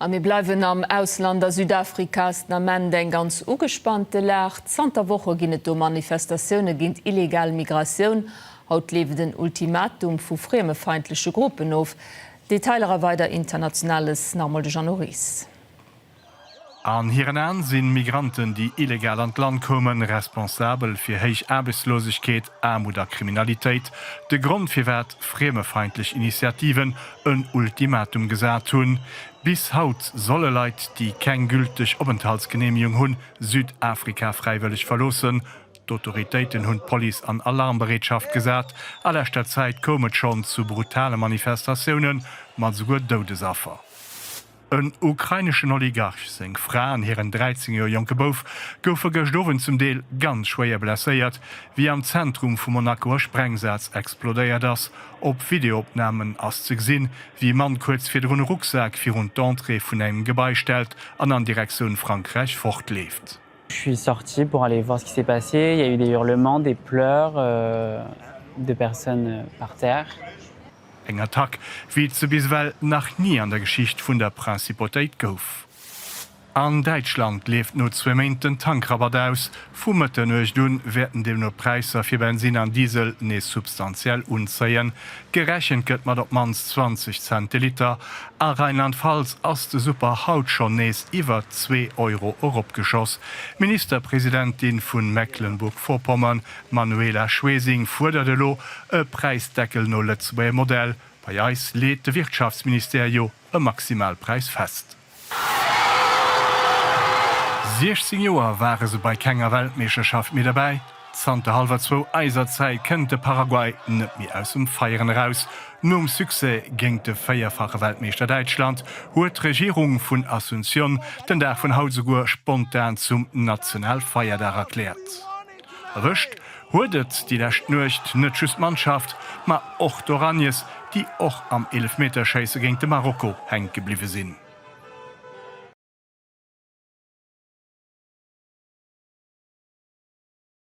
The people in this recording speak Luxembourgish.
A mir bleiwen am Ausland. A Südafrika ass den Ament eng ganz ugespannte Lag. Zanter Woche ginn et do Manifestatioune géint illegal Migratioun. Haut leeft en Ultimatum vu friemefeindleche Gruppen of. Detailer a weider Internationales nach emol de Jeannot Ries. An hiren Aen sinn Migranten, déi illegal an d'Land koumen, responsabel fir héich Aarbechtslosegkeet, Aarmut a Kriminalitéit, de Grond firwat friemefeindlech Initiativen en Ultimatum gesat hunn. Bis haut solle Leit, déi keng gülteg Openthaltsgeneemegung hunn, Südafrika fräiwëlleg verloossen. D'Autoritéiten hunn d'Police an Alarmbereetschaft gesat. A leschter Zäit koum et schonn zu brutale Manifestatioune mat esouguer Doudesaffer. En ukraineschen Oligarch, seng Fra an hiren 13 Joer jonke Bouf goufe gëscht Owend zum Deel ganz schwéier blesséiert, wéi am Zentrum vu Monaco e Sprengsaz explodéiert ass. Op Videoopnamen ass ze gesinn, wéi e Mann kuerz virdrun e Rucksak virun d'Entrée vun engem Gebai stellt an an Direktioun Frankräich fortleeft. Je suis sorti pour aller voir ce qui s'est passé, il y a eu des hurlements, des pleurs, des personnes par terre. Eng Attack, wéi et se bis ewell nach ni an der Geschicht vun der Principotéit gouf. An Däitschland leeft no zwee Méint den Tankrabatt aus. Vu Mëtternuecht un wäerten deemno d'Präisser fir Bensin an Diesel nees substantiell unzéien. Gerechent gëtt mat op d'mannst 20 Cent de Liter. A Rheinland-Pfalz ass de Super haut schonn nees iwwer zwee Euro eropgeschoss. D'Ministerpresidentin vu Mecklenburg-Vorpommern D'Manuela Schwesing fuerdert elo e Präisdeckel no Lëtzebuerger Modell, Bei eis leet de Wirtschaftsministère jo e Maximalpräis fest. 16 Joer ware se bei kenger Weltmeeschterschaft méi derbäi. Zanter hallwer zwou eiser Zäit kënnt de Paraguay net méi aus dem Feieren eraus. Nom Succès géint de véierfache Weltmeeschter Däitschland huet d'Regierung vun Asunción den Dag vun haut souguer spontan zum Nationalfeierdag erkläert. Erwëscht huet et déi lescht Nuecht net just d'Mannschaft, ma och d'Oranjes, déi och am Eelefmeterschéisse géint de Marokko hänke bliwwe sinn.